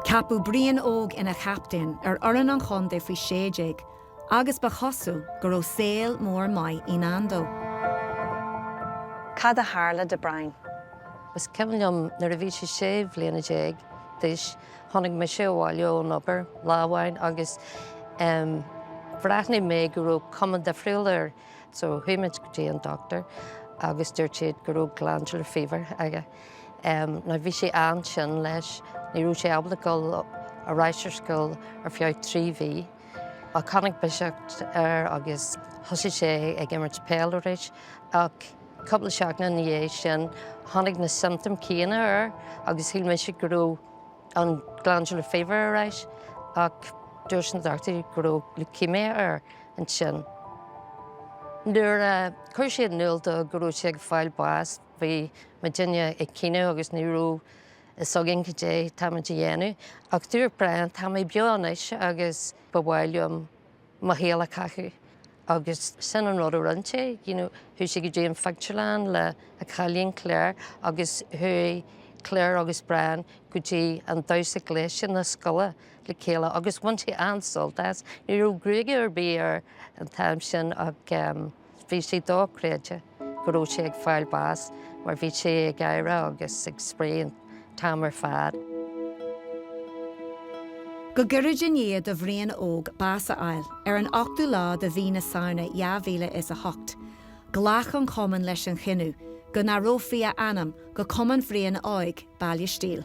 Ceapadh Brian Óg ina chaptaen ar fhoireann an chontae faoi sé déag agus ba chosúil go raibh saol mór maith i ndán dó. Cad a tharla do Brian? Is cuimhin liom nuair a bhí sé sé bhliana déag d'aois, tháinig mise abhaile ón obair lá amháin agus bhreathnaigh mé go raibh cuma difriúil air so chuaigh muid go dtí an doctor agus dúirt siad go raibh glandular fever aige. Now bhí sé an-tinn leis, ní raibh sé ábalta dul ar ais ar scoil ar feadh trí mhí. Ach tháinig biseach air agus thosaigh sé ag imirt peil arís. Ach cúpla seachtain ina dhiaidh sin, tháinig na symptoms céanna air agus shíl mise go raibh an glandular fever ar ais. Ach dúirt na dochtúirí go raibh leukemia air ansin. Nuair a chuir siad in iúl dó go raibh sé ag fáil bás, Bhí muidinne ag caoineadh agus ní raibh fhios againn goidé tá muid a dhéanamh ach dúirt Brian, tá mé beo anois agus ba mhaith liom mo shaol a chaitheamh agus sin an rud a rinne sé, you know, chuaigh sé go dtí an phictiúrlann le a chailín Clare agus chuaigh Clare agus Brian go dtí an damhsa gléasta na scoile le chéile agus bhain sé an-sult as. Ní raibh gruaige ar bith air an t-am sin ach, eh, Bhí sé dochreidte go raibh sé ag fáil bás mar bhí sé ag gáire agus ag spraoi an t-am ar fad. Go gairid i ndiaidh do Bhrian Óg bás a fháil, ar an 8ú lá de mhí na Samhna 2008, ghlac an Cumann leis an chinneadh go n-athrófaí a ainm go Cumann Bhriain Óig, Baile Stíl.